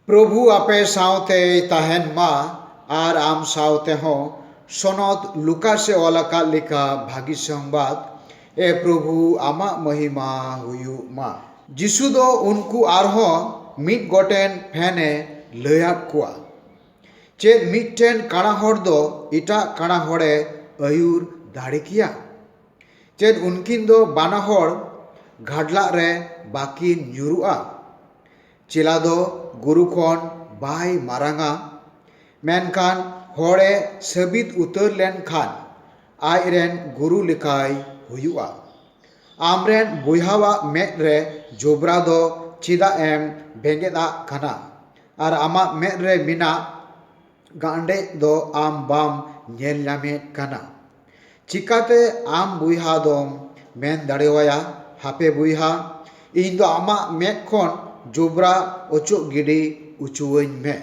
ᱯᱨᱚᱵᱷᱩ ᱟᱯᱮ ᱥᱟᱶᱛᱮᱭ ᱛᱟᱦᱮᱸᱱ ᱢᱟ ᱟᱨ ᱟᱢ ᱥᱟᱶᱛᱮ ᱦᱚᱸ᱾ ᱥᱚᱱᱚᱛ ᱞᱩᱠᱟᱥ ᱮ ᱚᱞ ᱟᱠᱟᱫ ᱞᱮᱠᱟ ᱵᱷᱟᱹᱜᱤ ᱥᱚᱝᱵᱟᱫᱽ᱾ ᱮ ᱯᱨᱚᱵᱷᱩ ᱟᱢᱟᱜ ᱢᱚᱦᱤᱢᱟ ᱦᱩᱭᱩᱜ ᱢᱟ᱾ ᱡᱤᱥᱩ ᱫᱚ ᱩᱱᱠᱩ ᱟᱨᱦᱚᱸ ᱢᱤᱫ ᱜᱚᱴᱮᱱ ᱯᱷᱮᱱ ᱮ ᱞᱟᱹᱭ ᱟᱫ ᱠᱚᱣᱟ᱾ ᱪᱮᱫ ᱢᱤᱫᱴᱮᱱ ᱠᱟᱬᱟ ᱦᱚᱲ ᱫᱚ ᱮᱴᱟᱜ ᱠᱟᱬᱟ ᱦᱚᱲ ᱮ ᱟᱹᱭᱩᱨ ᱫᱟᱲᱮ ᱠᱮᱭᱟ? ᱪᱮᱫ ᱩᱱᱠᱤᱱ ᱫᱚ ᱵᱟᱱᱟ ᱦᱚᱲ ᱜᱷᱟᱰᱞᱟᱜ ᱨᱮ ᱵᱟᱠᱤᱱ ᱧᱩᱨᱩᱜᱼᱟ? ᱪᱮᱞᱟ ᱫᱚ ᱜᱩᱨᱩ ᱠᱷᱚᱱ ᱵᱟᱭ ᱢᱟᱨᱟᱝᱟ ᱢᱮᱱᱠᱷᱟᱱ ᱦᱚᱲᱮ ᱥᱟᱹᱵᱤᱫ ᱩᱛᱟᱹᱨ ᱞᱮᱱᱠᱷᱟᱱ ᱟᱡ ᱨᱮᱱ ᱜᱩᱨᱩ ᱞᱮᱠᱟᱭ ᱦᱩᱭᱩᱜᱼᱟ ᱟᱢ ᱨᱮᱱ ᱵᱚᱭᱦᱟ ᱟᱜ ᱢᱮᱫ ᱨᱮ ᱡᱚᱵᱽᱨᱟ ᱫᱚ ᱪᱮᱫᱟᱜ ᱮᱢ ᱵᱮᱸᱜᱮᱫ ᱟᱜ ᱠᱟᱱᱟ ᱟᱨ ᱟᱢᱟᱜ ᱢᱮᱫ ᱨᱮ ᱢᱮᱱᱟᱜ ᱜᱟᱸᱰᱮᱡ ᱫᱚ ᱟᱢ ᱵᱟᱢ ᱧᱮᱞ ᱧᱟᱢᱮᱫ ᱠᱟᱱᱟ᱾ ᱪᱤᱠᱟᱹᱛᱮ ᱟᱢ ᱵᱚᱭᱦᱟ ᱫᱚᱢ ᱢᱮᱱ ᱫᱟᱲᱮᱣᱟᱭᱟ, ᱦᱟᱯᱮ ᱵᱚᱭᱦᱟ, ᱤᱧ ᱫᱚ ᱟᱢᱟᱜ ᱢᱮᱫ ᱠᱷᱚᱱ ᱡᱚᱵᱽᱨᱟ ᱚᱪᱚᱜ ᱜᱤᱰᱤ ᱚᱪᱚᱣᱟᱹᱧ ᱢᱮ᱾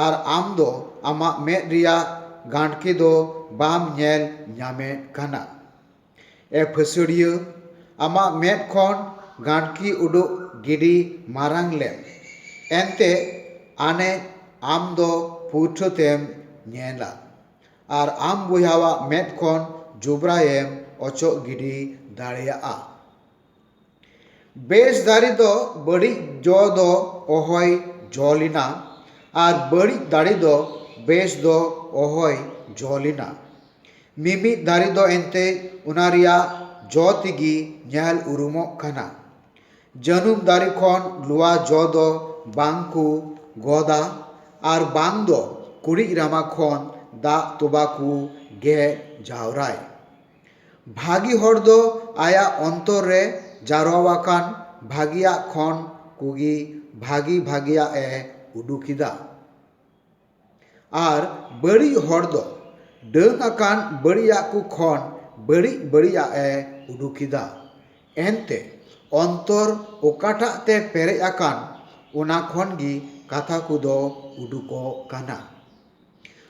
ᱟᱨ ᱟᱢ ᱫᱚ ᱟᱢᱟᱜ ᱢᱮᱫ ᱨᱮᱭᱟᱜ ᱜᱟᱸᱰᱠᱮ ᱫᱚ ᱵᱟᱢ ᱧᱮᱞ ᱧᱟᱢᱮᱫ ᱠᱟᱱᱟ᱾ ᱮ ᱯᱷᱟᱹᱥᱭᱟᱹᱲᱤᱭᱟᱹ ᱟᱢᱟᱜ ᱢᱮᱫ ᱠᱷᱚᱱ ᱜᱟᱸᱰᱠᱤ ᱩᱰᱩᱠ ᱜᱤᱰᱤ ᱢᱟᱨᱟᱝ ᱞᱮᱢ ᱮᱱᱛᱮ ᱟᱱᱮᱡ ᱟᱢ ᱫᱚ ᱯᱩᱭᱴᱷᱟᱹ ᱛᱮᱢ ᱧᱮᱞᱟ ᱟᱨ ᱟᱢ ᱵᱚᱭᱦᱟᱣᱟᱜ ᱢᱮᱫ ᱠᱷᱚᱱ ᱡᱚᱵᱽᱨᱟᱭᱮᱢ ᱚᱪᱚᱜ ᱜᱤᱰᱤ ᱫᱟᱲᱮᱭᱟᱜᱼᱟ ᱵᱮᱥ ᱫᱟᱨᱮ ᱫᱚ ᱵᱟᱹᱲᱤᱡ ᱡᱚ ᱫᱚ ᱚᱦᱚᱭ ᱡᱚ ᱞᱮᱱᱟ ᱟᱨ ᱵᱟᱹᱲᱤᱡ ᱫᱟᱲᱮ ᱫᱚ ᱵᱮᱥ ᱫᱚ ᱚᱦᱚᱭ ᱡᱚ ᱞᱮᱱᱟ᱾ ᱢᱤᱢᱤᱫ ᱫᱟᱨᱮ ᱫᱚ ᱮᱱᱛᱮᱡ ᱚᱱᱟ ᱨᱮᱭᱟᱜ ᱡᱚ ᱛᱮᱜᱮ ᱧᱮᱞ ᱩᱨᱩᱢᱚᱜ ᱠᱟᱱᱟ᱾ ᱡᱟᱹᱱᱩᱢ ᱫᱟᱨᱮ ᱠᱷᱚᱱ ᱞᱚᱣᱟ ᱡᱚ ᱫᱚ ᱵᱟᱝ ᱠᱚ ᱜᱚᱫᱟ ᱟᱨ ᱵᱟᱝ ᱫᱚ ᱠᱩᱲᱤᱡ ᱨᱟᱢᱟ ᱠᱷᱚᱱ ᱫᱟᱜ ᱛᱚᱵᱟ ᱠᱚ ᱜᱮᱫ ᱡᱟᱣᱨᱟᱭ᱾ ᱵᱷᱟᱹᱜᱤ ᱦᱚᱲ ᱫᱚ ᱟᱭᱟᱜ ᱚᱱᱛᱚᱨ ᱨᱮ ᱡᱟᱨᱣᱟ ᱟᱠᱟᱱ ᱵᱷᱟᱹᱜᱤᱭᱟᱜ ᱠᱷᱚᱱ ᱠᱚᱜᱮ ᱵᱷᱟᱹᱜᱤ ᱵᱷᱟᱹᱜᱤᱭᱟᱜ ᱮ ᱩᱰᱩᱠ ᱮᱫᱟ ᱟᱨ ᱵᱟᱹᱲᱤᱡ ᱦᱚᱲ ᱫᱚ ᱰᱟᱹᱱ ᱟᱠᱟᱱ ᱵᱟᱹᱲᱤᱡᱟᱜ ᱠᱚ ᱠᱷᱚᱱ ᱵᱟᱹᱲᱤᱡ ᱵᱟᱹᱲᱤᱡᱟᱜ ᱮ ᱩᱰᱩᱠ ᱮᱫᱟ ᱮᱱᱛᱮ ᱚᱱᱛᱚᱨ ᱚᱠᱟᱴᱟᱜ ᱛᱮ ᱯᱮᱨᱮᱡ ᱟᱠᱟᱱ ᱚᱱᱟ ᱠᱷᱚᱱ ᱜᱮ ᱠᱟᱛᱷᱟ ᱠᱚᱫᱚ ᱩᱰᱩᱠᱚᱜ ᱠᱟᱱᱟ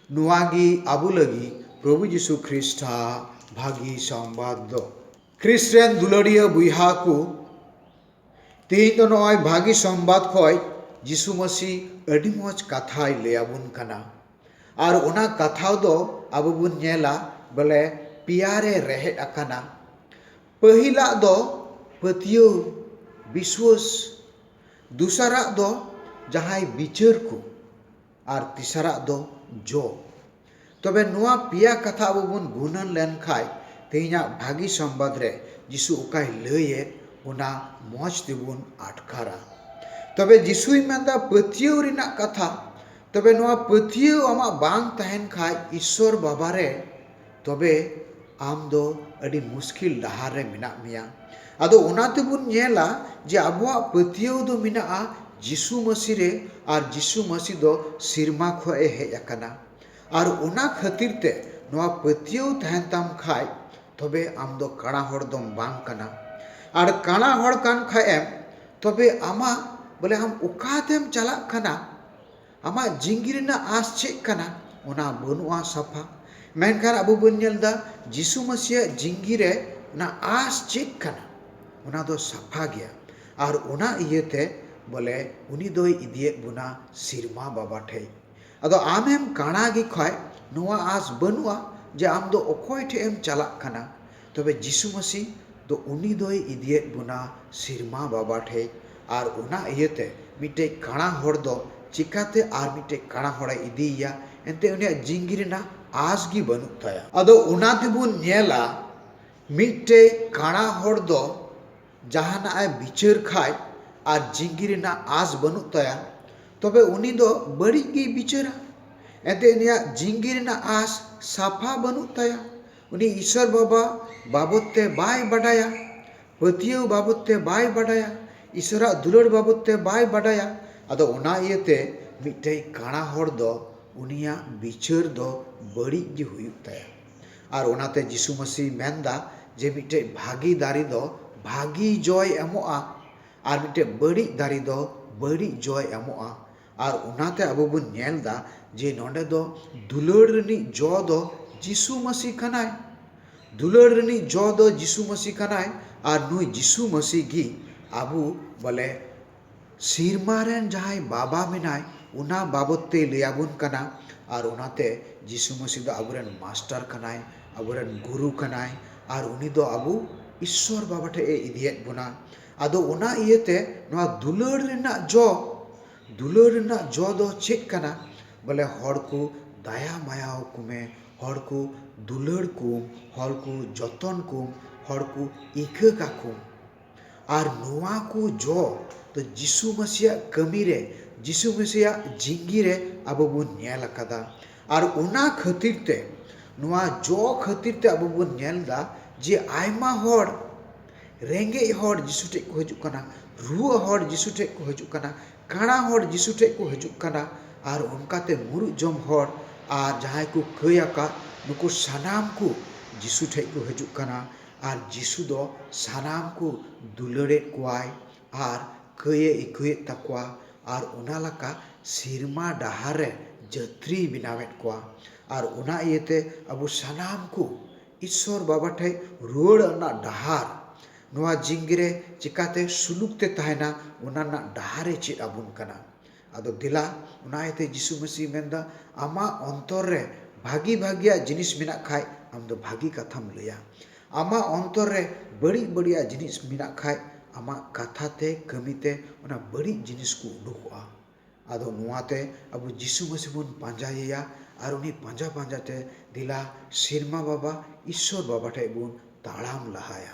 ᱱᱚᱣᱟ ᱜᱮ ᱟᱵᱚ ᱞᱟᱹᱜᱤᱫ ᱯᱨᱚᱵᱷᱩ ᱡᱤᱥᱩ ᱠᱷᱨᱤᱥᱴ ᱟᱜ ᱵᱷᱟᱹᱜᱤ ᱥᱚᱢᱵᱟᱫ ᱫᱚ᱾ ᱠᱷᱨᱤᱥᱴ ᱨᱮᱱ ᱫᱩᱞᱟᱹᱲᱤᱭᱟᱹ ᱵᱚᱭᱦᱟ ᱠᱚ, ᱛᱮᱦᱮᱧ ᱫᱚ ᱱᱚᱜᱼᱚᱭ ᱵᱷᱟᱹᱜᱤ ᱥᱚᱢᱵᱟᱫ ᱠᱷᱚᱱ ᱡᱤᱥᱩ ᱢᱟᱹᱥᱤ ᱟᱹᱰᱤ ᱢᱚᱡᱽ ᱠᱟᱛᱷᱟᱭ ᱞᱟᱹᱭ ᱟᱵᱚᱱ ᱠᱟᱱᱟ᱾ ᱟᱨ ᱚᱱᱟ ᱠᱟᱛᱷᱟ ᱫᱚ ᱟᱵᱚ ᱵᱚᱱ ᱧᱮᱞᱟ ᱵᱚᱞᱮ ᱯᱮᱭᱟ ᱨᱮ ᱨᱮᱦᱮᱫ ᱟᱠᱟᱱᱟ᱾ ᱯᱟᱹᱦᱤᱞᱟᱜ ᱫᱚ ᱯᱟᱹᱛᱭᱟᱹᱣ, ᱵᱤᱥᱣᱟᱹᱥ᱾ ᱫᱚᱥᱟᱨᱟᱜ ᱫᱚ ᱡᱟᱦᱟᱸᱭ ᱵᱤᱪᱟᱹᱨ ᱠᱚ᱾ ᱟᱨ ᱛᱮᱥᱟᱨᱟᱜ ᱫᱚ ᱡᱚ ᱛᱚᱵᱮ ᱱᱚᱣᱟ ᱯᱮᱭᱟ ᱠᱟᱛᱷᱟ ᱟᱵᱚ ᱵᱚᱱ ᱜᱩᱱᱟᱹᱱ ᱞᱮᱱᱠᱷᱟᱱ ᱛᱮᱦᱮᱧᱟᱜ ᱵᱷᱟᱹᱜᱤ ᱥᱚᱢᱵᱟᱫ ᱨᱮ ᱡᱤᱥᱩ ᱚᱠᱟᱭ ᱞᱟᱹᱭ ᱮᱫ ᱚᱱᱟ ᱢᱚᱸᱡᱽ ᱛᱮᱵᱚᱱ ᱟᱴᱠᱟᱨᱟ ᱛᱚᱵᱮ ᱡᱤᱥᱩᱭ ᱢᱮᱱ ᱮᱫᱟ ᱯᱟᱹᱛᱭᱟᱹᱣ ᱨᱮᱱᱟᱜ ᱠᱟᱛᱷᱟ ᱛᱚᱵᱮ ᱱᱚᱣᱟ ᱯᱟᱹᱛᱭᱟᱹᱣ ᱟᱢᱟᱜ ᱵᱟᱝ ᱛᱟᱦᱮᱱ ᱠᱷᱟᱱ ᱤᱥᱥᱚᱨ ᱵᱟᱵᱟᱨᱮ ᱛᱚᱵᱮ ᱟᱢ ᱫᱚ ᱟᱹᱰᱤ ᱢᱩᱥᱠᱤᱞ ᱰᱟᱦᱟᱨ ᱨᱮ ᱢᱮᱱᱟᱜ ᱢᱮᱭᱟ᱾ ᱟᱫᱚ ᱚᱱᱟ ᱛᱮᱵᱚᱱ ᱧᱮᱞᱟ ᱡᱮ ᱟᱵᱚᱣᱟᱜ ᱯᱟᱹᱛᱭᱟᱹᱣ ᱫᱚ ᱢᱮᱱᱟᱜᱼᱟ ᱡᱤᱥᱩ ᱢᱟᱹᱥᱤ ᱨᱮ ᱟᱨ ᱡᱤᱥᱩ ᱢᱟᱹᱥᱤ ᱫᱚ ᱥᱤᱨᱢᱟ ᱠᱷᱚᱡ ᱮ ᱦᱮᱡ ᱟᱠᱟᱱᱟ᱾ ᱟᱨ ᱚᱱᱟ ᱠᱷᱟᱹᱛᱤᱨ ᱛᱮ ᱱᱚᱣᱟ ᱯᱟᱹᱛᱭᱟᱹᱣ ᱛᱟᱦᱮᱱ ᱛᱟᱢ ᱠᱷᱟᱡ ᱛᱚᱵᱮ ᱟᱢ ᱫᱚ ᱠᱟᱬᱟ ᱦᱚᱲ ᱫᱚᱢ ᱵᱟᱝ ᱠᱟᱱᱟ᱾ ᱟᱨ ᱠᱟᱬᱟ ᱦᱚᱲ ᱠᱟᱱ ᱠᱷᱟᱡ ᱮᱢ ᱛᱚᱵᱮ ᱟᱢᱟᱜ ᱵᱚᱞᱮ ᱟᱢ ᱚᱠᱟ ᱛᱮᱢ ᱪᱟᱞᱟᱜ ᱠᱟᱱᱟ᱾ ᱟᱢᱟᱜ ᱡᱤᱸᱜᱤ ᱨᱮᱱᱟᱜ ᱟᱸᱥ ᱪᱮᱫ ᱠᱟᱱᱟ? ᱚᱱᱟ ᱵᱟᱹᱱᱩᱜᱼᱟ ᱥᱟᱯᱷᱟ᱾ ᱢᱮᱱᱠᱷᱟᱱ ᱟᱵᱚ ᱵᱚᱱ ᱧᱮᱞ ᱮᱫᱟ ᱡᱤᱥᱩ ᱢᱟᱹᱥᱤᱭᱟᱜ ᱡᱤᱸᱜᱤ ᱨᱮ ᱱᱟᱜ ᱟᱸᱥ ᱪᱮᱫ ᱠᱟᱱᱟ? ᱚᱱᱟ ᱫᱚ ᱥᱟᱯᱷᱟ ᱜᱮᱭᱟ ᱟᱨ ᱚᱱᱟ ᱤᱭᱟᱹ ᱛᱮ ᱵᱚᱞᱮ ᱩᱱᱤ ᱫᱚᱭ ᱤᱫᱤᱭᱮᱫ ᱵᱚᱱᱟ ᱥᱤᱨᱢᱟ ᱵᱟᱵᱟ ᱴᱷᱮᱡ᱾ ᱟᱫᱚ ᱟᱢᱮᱢ ᱠᱟᱬᱟ ᱜᱮ ᱠᱷᱟᱡ ᱱᱚᱣᱟ ᱟᱸᱥ ᱵᱟᱹᱱᱩᱜᱼᱟ ᱡᱮ ᱟᱢ ᱫᱚ ᱚᱠᱚᱭ ᱴᱷᱮᱡ ᱮᱢ ᱪᱟᱞᱟᱜ ᱠᱟᱱᱟ᱾ ᱛᱚᱵᱮ ᱡᱤᱥᱩ ᱢᱟᱹᱥᱤ ᱫᱚ ᱩᱱᱤ ᱫᱚᱭ ᱤᱫᱤᱭᱮᱫ ᱵᱚᱱᱟ ᱥᱤᱨᱢᱟ ᱵᱟᱵᱟ ᱴᱷᱮᱡ ᱟᱨ ᱚᱱᱟ ᱤᱭᱟᱹᱛᱮ ᱢᱤᱫᱴᱮᱡ ᱠᱟᱬᱟ ᱦᱚᱲ ᱫᱚ ᱪᱮᱠᱟᱛᱮ ᱟᱨ ᱢᱤᱫᱴᱮᱡ ᱠᱟᱬᱟ ᱦᱚᱲᱮ ᱤᱫᱤᱭᱮᱭᱟ ᱮᱱᱛᱮ ᱩᱱᱤᱭᱟᱜ ᱡᱤᱝᱜᱤ ᱨᱮᱱᱟᱜ ᱟᱸᱥ ᱜᱮ ᱵᱟᱹᱱᱩᱜ ᱛᱟᱭᱟ᱾ ᱟᱫᱚ ᱚᱱᱟ ᱛᱮᱵᱚᱱ ᱧᱮᱞᱟ ᱢᱤᱫᱴᱮᱡ ᱠᱟᱬᱟ ᱦᱚᱲ ᱫᱚ ᱡᱟᱦᱟᱱᱟᱜ ᱮ ᱵᱤᱪᱟᱹᱨ ᱠᱷᱟᱡ ᱟᱨ ᱡᱤᱝᱜᱤ ᱨᱮᱱᱟᱜ ᱟᱸᱥ ᱵᱟᱹᱱᱩᱜ ᱛᱟᱭᱟ ᱛᱚᱵᱮ ᱩᱱᱤ ᱫᱚ ᱵᱟᱹᱲᱤᱡ ᱜᱮᱭ ᱵᱤᱪᱟᱹᱨᱟ ᱮᱱᱛᱮ ᱩᱱᱤᱭᱟᱜ ᱡᱤᱝᱜᱤ ᱨᱮᱱᱟᱜ ᱟᱸᱥ ᱥᱟᱯᱷᱟ ᱵᱟᱹᱱᱩᱜ ᱛᱟᱭᱟ ᱩᱱᱤ ᱤᱥᱚᱨ ᱵᱟᱵᱟ ᱵᱟᱵᱚᱛ ᱛᱮ ᱵᱟᱭ ᱵᱟᱰᱟᱭᱟ, ᱯᱟᱹᱛᱭᱟᱹᱣ ᱵᱟᱵᱚᱛ ᱛᱮ ᱵᱟᱭ ᱵᱟᱰᱟᱭᱟ, ᱤᱥᱚᱨᱟᱜ ᱫᱩᱞᱟᱹᱲ ᱵᱟᱵᱚᱛ ᱛᱮ ᱵᱟᱭ ᱵᱟᱰᱟᱭᱟ᱾ ᱟᱫᱚ ᱚᱱᱟ ᱤᱭᱟᱹ ᱛᱮ ᱢᱤᱫᱴᱮᱡ ᱠᱟᱬᱟ ᱦᱚᱲ ᱫᱚ ᱩᱱᱤᱭᱟᱜ ᱵᱤᱪᱟᱹᱨ ᱫᱚ ᱵᱟᱹᱲᱤᱡ ᱜᱮ ᱦᱩᱭᱩᱜ ᱛᱟᱭᱟ᱾ ᱟᱨ ᱚᱱᱟ ᱛᱮ ᱡᱤᱥᱩ ᱢᱟᱹᱥᱤᱭ ᱢᱮᱱ ᱫᱟ ᱡᱮ ᱢᱤᱫᱴᱮᱡ ᱵᱷᱟᱜᱮ ᱫᱟᱨᱮ ᱫᱚ ᱵᱷᱟᱜᱮ ᱡᱚᱭ ᱮᱢᱚᱜᱼᱟ ᱟᱨ ᱢᱤᱫᱴᱮᱡ ᱵᱟᱹᱲᱤᱡ ᱫᱟᱨᱮ ᱫᱚ ᱵᱟᱹᱲᱤᱡ ᱡᱚᱭ ᱮᱢᱚᱜᱼᱟ᱾ ᱟᱨ ᱚᱱᱟᱛᱮ ᱟᱵᱚ ᱵᱚᱱ ᱧᱮᱞ ᱮᱫᱟ ᱡᱮ ᱱᱚᱰᱮ ᱫᱚ ᱫᱩᱞᱟᱹᱲ ᱨᱤᱱᱤᱡ ᱡᱚ ᱫᱚ ᱡᱤᱥᱩ ᱢᱟᱹᱥᱤ ᱠᱟᱱᱟᱭ ᱫᱩᱞᱟᱹᱲ ᱨᱤᱱᱤᱡ ᱡᱚ ᱫᱚ ᱡᱤᱥᱩ ᱢᱟᱹᱥᱤ ᱠᱟᱱᱟᱭ ᱟᱨ ᱱᱩᱭ ᱡᱤᱥᱩ ᱢᱟᱹᱥᱤ ᱜᱮ ᱟᱵᱚ ᱵᱚᱞᱮ ᱥᱮᱨᱢᱟ ᱨᱮᱱ ᱡᱟᱦᱟᱸᱭ ᱵᱟᱵᱟ ᱢᱮᱱᱟᱭ ᱚᱱᱟ ᱵᱟᱵᱚᱫ ᱛᱮᱭ ᱞᱟᱹᱭ ᱟᱵᱚᱱ ᱠᱟᱱᱟ ᱟᱨ ᱚᱱᱟᱛᱮ ᱡᱤᱥᱩ ᱢᱟᱹᱥᱤ ᱫᱚ ᱟᱵᱚ ᱨᱮᱱ ᱢᱟᱥᱴᱟᱨ ᱠᱟᱱᱟᱭ ᱟᱵᱚ ᱨᱮᱱ ᱜᱩᱨᱩ ᱠᱟᱱᱟᱭ ᱟᱨ ᱩᱱᱤ ᱫᱚ ᱟᱵᱚ ᱤᱥᱥᱚᱨ ᱵᱟᱵᱟ ᱴᱷᱮᱱ ᱮ ᱤᱫᱤᱭᱮᱫ ᱵᱚᱱᱟ ᱟᱫᱚ ᱚᱱᱟ ᱤᱭᱟᱹᱛᱮ ᱱᱚᱣᱟ ᱫᱩᱞᱟᱹᱲ ᱨᱮᱱᱟᱜ ᱡᱚ ᱫᱩᱞᱟᱹᱲ ᱨᱮᱱᱟᱜ ᱡᱚ ᱫᱚ ᱪᱮᱫ ᱠᱟᱱᱟ ᱵᱚᱞᱮ ᱦᱚᱲ ᱠᱚ ᱫᱟᱭᱟ ᱢᱟᱭᱟ ᱟᱠᱚ ᱢᱮ ᱦᱚᱲ ᱠᱚ ᱫᱩᱞᱟᱹᱲ ᱠᱚᱢ ᱦᱚᱲ ᱠᱚ ᱡᱚᱛᱚᱱ ᱠᱚᱢ ᱦᱚᱲ ᱠᱚ ᱤᱠᱟᱹ ᱠᱟᱠᱚᱢ ᱟᱨ ᱱᱚᱣᱟ ᱠᱚ ᱡᱚ ᱫᱚ ᱡᱤᱥᱩ ᱢᱟᱹᱥᱤᱭᱟᱜ ᱠᱟᱹᱢᱤ ᱨᱮ ᱡᱤᱥᱩ ᱢᱟᱹᱥᱤᱭᱟᱜ ᱡᱤᱱᱫᱮᱜᱤ ᱨᱮ ᱟᱵᱚ ᱵᱚᱱ ᱧᱮᱞ ᱟᱠᱟᱫᱟ ᱟᱨ ᱚᱱᱟ ᱠᱷᱟᱹᱛᱤᱨ ᱛᱮ ᱱᱚᱣᱟ ᱡᱚ ᱠᱷᱟᱹᱛᱤᱨ ᱛᱮ ᱟᱵᱚ ᱵᱚᱱ ᱧᱮᱞ ᱮᱫᱟ ᱡᱮ ᱟᱭᱢᱟ ᱦᱚᱲ ᱨᱮᱸᱜᱮᱡ ᱦᱚᱲ ᱡᱤᱥᱩ ᱴᱷᱮᱡ ᱠᱚ ᱦᱤᱡᱩᱜ ᱠᱟᱱᱟ, ᱨᱩᱣᱟᱹᱜ ᱦᱚᱲ ᱡᱤᱥᱩ ᱴᱷᱮᱡ ᱠᱚ ᱦᱤᱡᱩᱜ ᱠᱟᱱᱟ, ᱠᱟᱬᱟ ᱦᱚᱲ ᱡᱤᱥᱩ ᱴᱷᱮᱡ ᱠᱚ ᱦᱤᱡᱩᱜ ᱠᱟᱱᱟ ᱟᱨ ᱚᱱᱠᱟ ᱛᱮ ᱢᱩᱨᱩᱫ ᱡᱚᱢ ᱦᱚᱲ ᱟᱨ ᱡᱟᱦᱟᱸᱭ ᱠᱚ ᱠᱟᱹᱭ ᱟᱠᱟᱫ ᱱᱩᱠᱩ ᱥᱟᱱᱟᱢ ᱠᱚ ᱡᱤᱥᱩ ᱴᱷᱮᱡ ᱠᱚ ᱦᱤᱡᱩᱜ ᱠᱟᱱᱟ ᱟᱨ ᱡᱤᱥᱩ ᱫᱚ ᱥᱟᱱᱟᱢ ᱠᱚ ᱫᱩᱞᱟᱹᱲᱮᱫ ᱠᱚᱣᱟᱭ ᱟᱨ ᱠᱟᱹᱭ ᱮ ᱟᱹᱭᱠᱟᱹᱣᱮᱫ ᱛᱟᱠᱚᱣᱟ ᱟᱨ ᱚᱱᱟ ᱞᱟᱠᱟ ᱥᱤᱨᱢᱟ ᱰᱟᱦᱟᱨ ᱨᱮ ᱡᱟᱹᱛᱨᱤᱭ ᱵᱮᱱᱟᱣᱮᱫ ᱠᱚᱣᱟ ᱟᱨ ᱚᱱᱟ ᱤᱭᱟᱹᱛᱮ ᱟᱵᱚ ᱥᱟᱱᱟᱢ ᱠᱚ ᱤᱥᱥᱚᱨ ᱵᱟᱵᱟ ᱴᱷᱮᱡ ᱨᱩᱣᱟᱹᱲ ᱨᱮᱱᱟᱜ ᱰᱟᱦᱟᱨ ᱱᱚᱣᱟ ᱡᱤᱝᱜᱤ ᱨᱮ ᱪᱮᱠᱟᱛᱮ ᱥᱩᱞᱩᱠ ᱛᱮ ᱛᱟᱦᱮᱱᱟ ᱚᱱᱟ ᱨᱮᱱᱟᱜ ᱰᱟᱦᱟᱨ ᱮ ᱪᱮᱫ ᱟᱵᱚᱱ ᱠᱟᱱᱟ ᱟᱫᱚ ᱫᱮᱞᱟ ᱚᱱᱟ ᱤᱭᱟᱹᱛᱮ ᱡᱤᱥᱩ ᱢᱟᱹᱥᱤ ᱢᱮᱱ ᱮᱫᱟ ᱟᱢᱟᱜ ᱚᱱᱛᱚᱨ ᱨᱮ ᱵᱷᱟᱜᱮ ᱵᱷᱟᱜᱮᱭᱟᱜ ᱡᱤᱱᱤᱥ ᱢᱮᱱᱟᱜ ᱠᱷᱟᱡ ᱟᱢ ᱫᱚ ᱵᱷᱟᱜᱮ ᱠᱟᱛᱷᱟᱢ ᱞᱟᱹᱭᱟ ᱟᱢᱟᱜ ᱚᱱᱛᱚᱨ ᱨᱮ ᱵᱟᱹᱲᱤᱡ ᱵᱟᱹᱲᱤᱡᱟᱜ ᱡᱤᱱᱤᱥ ᱢᱮᱱᱟᱜ ᱠᱷᱟᱡ ᱟᱢᱟᱜ ᱠᱟᱛᱷᱟ ᱛᱮ ᱠᱟᱹᱢᱤ ᱛᱮ ᱚᱱᱟ ᱵᱟᱹᱲᱤᱡ ᱡᱤᱱᱤᱥ ᱠᱚ ᱩᱰᱩᱠᱚᱜᱼᱟ ᱟᱫᱚ ᱱᱚᱣᱟ ᱛᱮ ᱟᱵᱚ ᱡᱤᱥᱩ ᱢᱟᱹᱥᱤ ᱵᱚᱱ ᱯᱟᱸᱡᱟᱭᱮᱭᱟ ᱟᱨ ᱩᱱᱤ ᱯᱟᱸᱡᱟ ᱯᱟᱸᱡᱟ ᱛᱮ ᱫᱮᱞᱟ ᱥᱮᱨᱢᱟ ᱵᱟᱵᱟ ᱤᱥᱥᱚᱨ ᱵᱟᱵᱟ ᱴᱷᱮᱱ ᱵᱚᱱ ᱛᱟᱲᱟᱢ ᱞᱟᱦᱟᱭᱟ